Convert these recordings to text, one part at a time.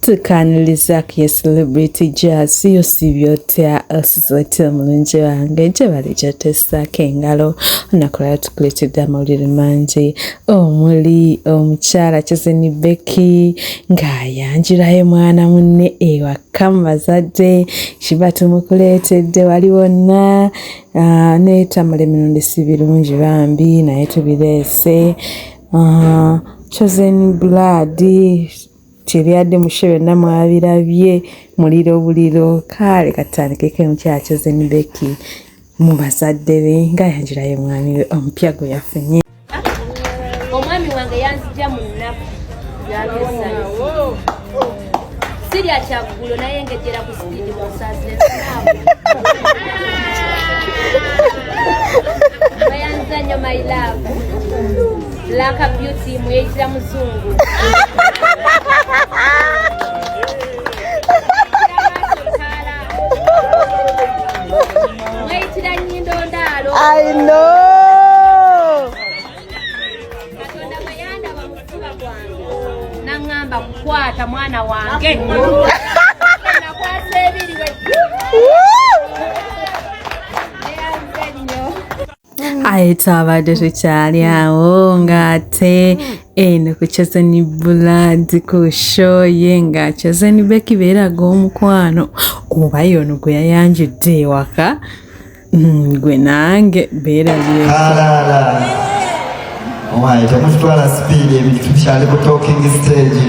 tukaniliza ku ye celebrity jazz yo sibyo tya osizoti omulungi wange gyebali gyotesako engalo onakulala tukuletedde amawulire mangi omuli omukyala kizini beki ng'ayanjulayo mwana munne ewaka mu bazadde kiba tumukuleetedde wali wonna ah, netamulemirundi si birungi bambi naye tubireese Ah, chosen blood kyebyadde mushe byonna mwabirabye muliro buliro kaale katandikeko emukyala chosen beki mu bazadde be nga yanjirayo omwami we omupya gwe yafunye omwami wange yanzija mu nnaku sirya kyaggulo naye ngejjera ku sipiidi mu nsazire bayanza nnyo my love black beauty mweyitira muzungu mweyitira nyindo ndaalo i know nangamba kukwata mwana wange aye twabadde tukyali awo ng'ate eno ku chazeni buladi ku shoye nga chazeni bekibeeraga omukwano oba yono gwe yayanjudde ewaka Hmm, gwe nange beerabyekalala owaye temukitwala sipiidi ebintu tukyali ku talking stage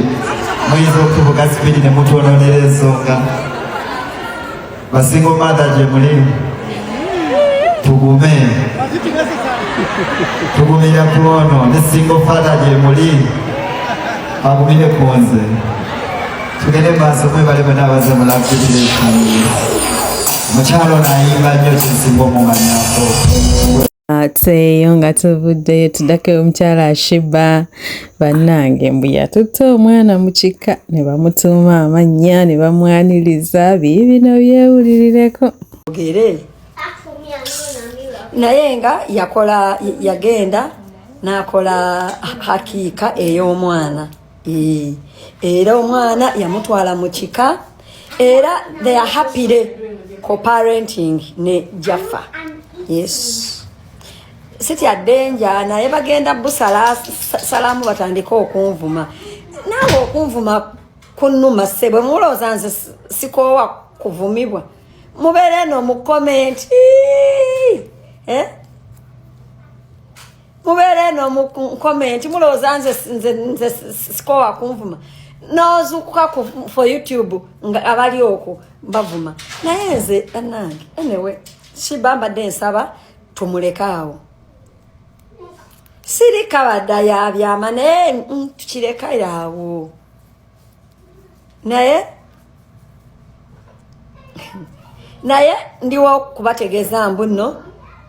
muyinza okutuvuga sipiidi ne mutwononera ensonga basinga omatha gye mulimu tugume tugumira ku ono ne singa ofatha gye muli agumire ku nze tugende maaso mwebale bwe naabaze mulabdibireka mukyalo naayimba nnyo kizibu omumanyako ateeyo nga tuvuddeyo tudako omukyala ashiba bannange mbu yatutte omwana mu kika ne bamutuuma amannya ne bamwaniriza biibino byewulirireko ogere naye nga yakola yagenda n'akola hakiika ey'omwana era omwana yamutwala mu kika era they are happy day coparenting ne jaffa yes sitya denja naye bagenda busalamu batandike okunvuma naawe okunvuma kunuma sebwe mulowooza nze sikoowa kuvumibwa mubeere no mu komenti eh? mubeera eno mu komenti mulowooza nze nze sikowa kunvuma nozukuka ku for youtube nga abali okwo bavuma naye nze banange anyway shiba mbadde nsaba tumulekaawo sirikabadda yabyama naye tukirekayo awo naye naye ndiwo kubategeeza mbu nno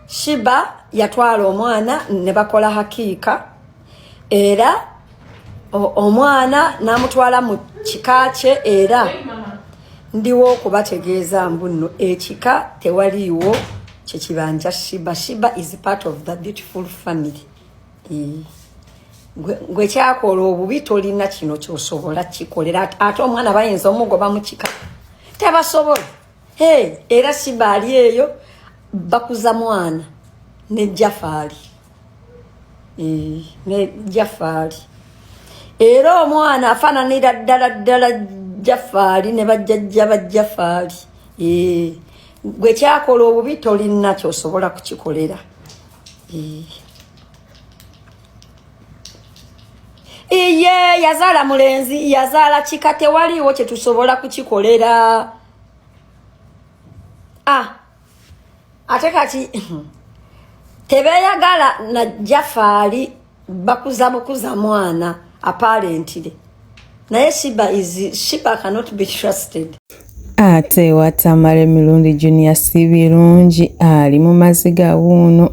shiba yatwala omwana ne bakola hakiika era omwana n'amutwala mu kika kye era ndiwo okubategeeza mbu nno ekika tewaliiwo kyekibanja shiba shiba is part of the beautiful family gwe kyakola obubi tolina kino kyosobola kikolera ate omwana bayinza omugoba mukika tebasobola hey, era sibaali eyo bakuza mwana ne jafaali eh, ne jafaali era omwana afaananira ddala ddala jafaali ne bajjajja ba jafaali eh, gwe kyakola obubi tolinakyo osobola kukikolera iye yazaala mulenzi yazaala kika tewaliiwo kyetusobola kukikolera ah, ate kati tebeyagala najjafaali bakuza bukuza mwana apparently naye shiba is shiba cannot be trusted ate watamala emirundi junior si birungi ali mu maziga wuuno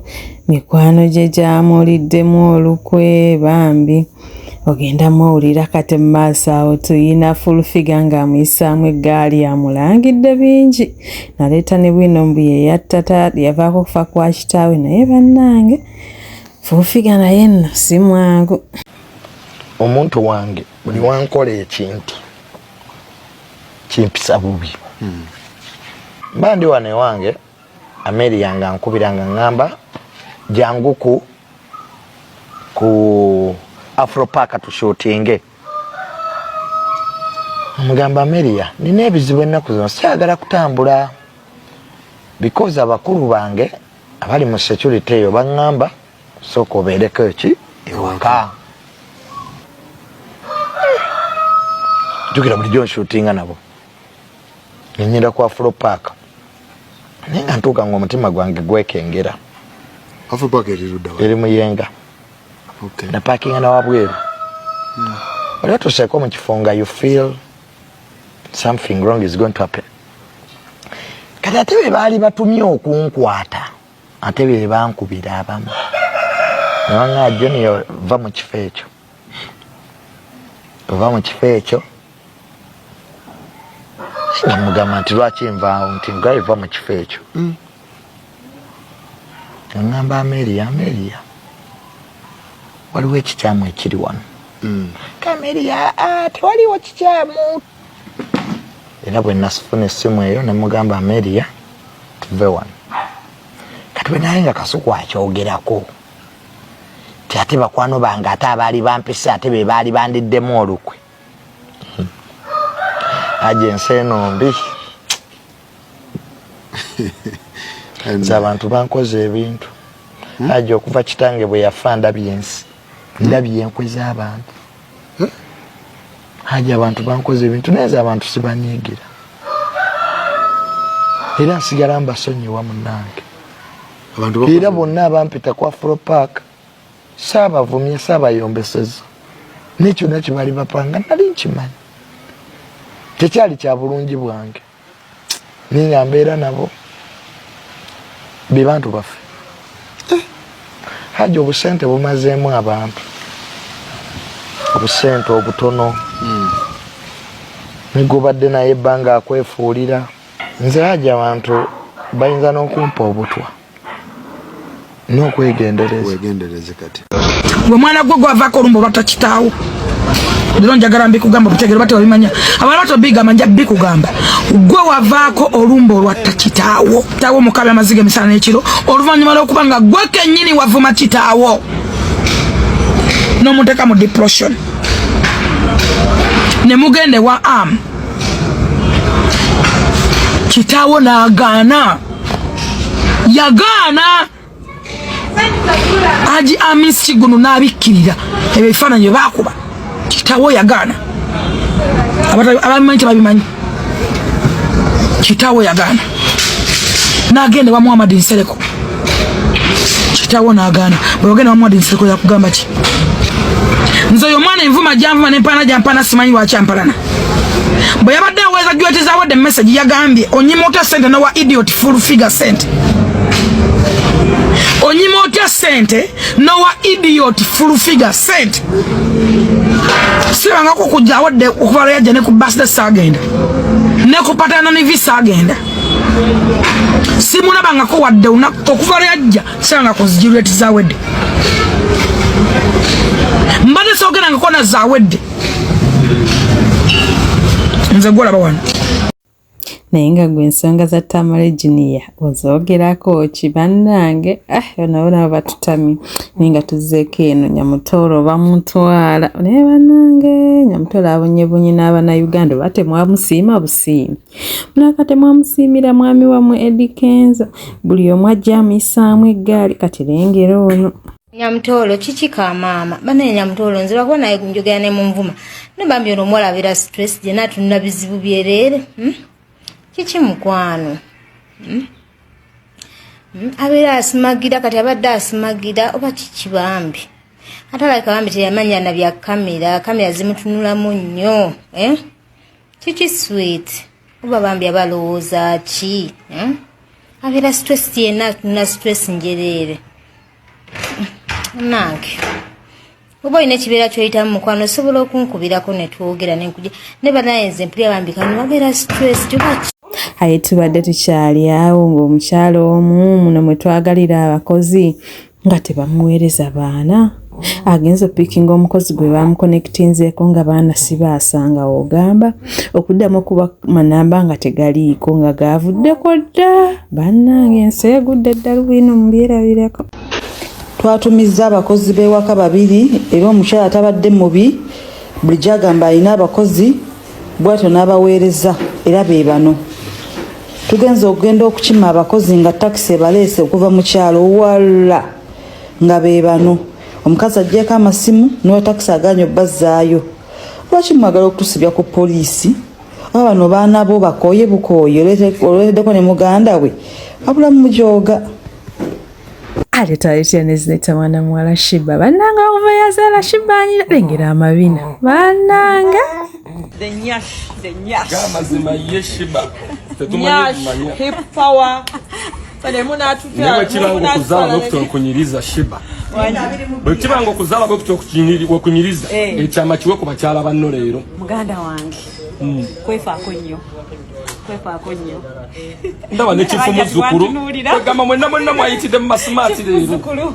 mikwano gye gyamuliddemu olukwe bambi ogenda muwulira kati mu maaso awo tuyina fulfiga ng'amuyisaamu eggaali amulangidde bingi naleeta ne bwino mbu yeyattata yavaako okufa kwa kitaawe naye bannange fuufiga naye nno si mwangu omuntu wange buli wankola ekintu kimpisa bubi hmm. mba ndi wano ewange ameeri yange ankubira nga ŋŋamba janguku ku afropaaka tushutinge omugamba ameria nina ebizibu ennaku zino sikyagala kutambula because abakulu bange abali mu security eyo baŋŋamba sooka obeereko eki ewaka jukira bulijjo nshutinga nabo nenyenda ku afro park naye nga ntuuka nga omutima gwange gwekengera eri muyenga napakinga nawabweru hmm. oli otuseeko mu kifo nga you feel something wrong is going to happen kati ate be baali batumye okunkwata ate be bankubira abamu nabanga junior va mu kifo ekyo va mu kifo ekyo namugamba nti lwaki nvaawo nti ngaye va mu kifo ekyo mm. aŋamba ameria ameria waliwo ekikyamu ekiri wano mm. kameria ah, tewaliwo kikyamu era bwe nasifuna essimu eyo ne mugamba ameria tuve wano kati bwe naye nga kasuku akyogerako ti ate bakwano bange ate abaali bampise ate be baali bandiddemu olukwe hmm. aje ensi eno mbi nze abantu bankoze ebintu hmm? aja okuva kitange bwe yafa ndabye ensi hmm? ndabye enkwe z'abantu hmm? aja abantu bankoze ebintu naye nze abantu sibanyiigira era nsigala mbasonyiwa munange era bonna abampita kwa fro park saabavumye saabayombeseza nekyona kyebali bapanga nali nkimanyi tekyali kya bulungi bwange naye nga mbeera nabo bebantu baffe eh, haji obusente bumazeemu abantu obusente obutono hmm. negubadde naye ebbanga akwefuulira nze haji abantu bayinza n'okumpa obutwa n'okwegendereza kati gwe mwana gwe gwavaako olumba oba takitaawo lero njagala mbikugamba obutegere oba tewabimanya abana bato bigamba nja bikugamba gwe wavaako olumba olwa takitaawo tawo mukabe amaziga emisana n'ekiro oluvannyuma lw'okuba nga gwe kennyini wavuma kitaawo n'omuteeka mu depression ne mugenda ewa am kitaawo n'agaana yagaana aji amisi kigunu n'abikkirira ebyo ebifaananyi byebakuba kitawo yagaana ababimanyi tebabimanyi kitawo yagaana nagenda wa muhammad nsereko kitawo nagaana bwewagenda wa muhammad nsereko yakugamba ki nze oyo omwana envuma janvuma nempaana jampaana simanyi lwaki ampalana bwe yabadde aweeza jweti zawadde message yagambye onyima otya sente nowa idiot full figure sente onyima otya sente nowa idiot full figure sente sirangako kujja awadde okuva lweyajja ne ku basde sagenda ne ku patana ne visa agenda simulabangako wadde okuva lweyajja sirangako zijirweti zawedde mbadde sogerangako na zawedde nze gwolaba wano naye nga gwe ensonga za tamale junior ozogerako ki bannange ah, nabo nabo batutami naye nga tuzzeeko eno nyamutooro bamutwala naye bannange nyamutooro abonyebunyi n'abana uganda oba temwamusiima busiimi mulaka temwamusiimira mwami wamwe edikenzo buli omu ajja amuyisaamu eggaali kati lengera ono Nyamtoro kiki ka maama banaye Nyamtoro nze lwakuba naye njogera ne munvuma naye bambi ono omuwala abeera stress gye natunula bizibu byereere hmm? kiki mukwano hmm? hmm? abeera asimagira kati abadde asimagira oba kiki bambi ate alabika bambi teyamanya na bya kamera kamera zimutunulamu nnyo eh? kiki sweet oba bambi aba alowooza ki hmm? abeera stress yenna atunula stress njereere nange oba olina ekibeera kyoyitamu mukwano osobola okunkubirako netwogera nenkuja ne banaye nze mpulya bambi kano babeera stress kyoba aye tubadde tukyali awo ng'omukyalo omu muno mwe twagalira abakozi nga tebamuweereza baana agenza opikinga omukozi gwe bamukonekitinzeeko nga baana sibaasanga ogamba okuddamu okuba manamba nga tegaliiko nga gaavuddeko dda bannange ensi egudde eddalu bwino mubyerabirako twatumizza abakozi b'ewaka babiri era omukyala tabadde mubi buli gyagamba alina abakozi bwatyo n'abaweereza era be bano tugenze okugenda okukima abakozi nga takisi ebaleese okuva mu kyalo walla nga be bano omukazi ajjeeko amasimu n'owa takisi agaanyi obbazaayo lwaki mwagala okutusibya ku poliisi oba bano baana bo bakooye bukooye olweteddeko ne muganda we abulamu mujooga aletaletya nezileta mwana muwala shiba bananga okuva yazala shiba anyira lengera amabina bananga amazima ye shiba bwekibanga okuzala nokutonkunyiriza shiba bwekibanga okuzala bwekutonkunyiriza eh. ekyama kiwe ku bakyala banno leero muganda wange hmm. kwefaako nnyo kwefaako nnyo ndaba nekifu muzzukulu kwegamba mwenna mwenna mwayitidde mu masimaati leero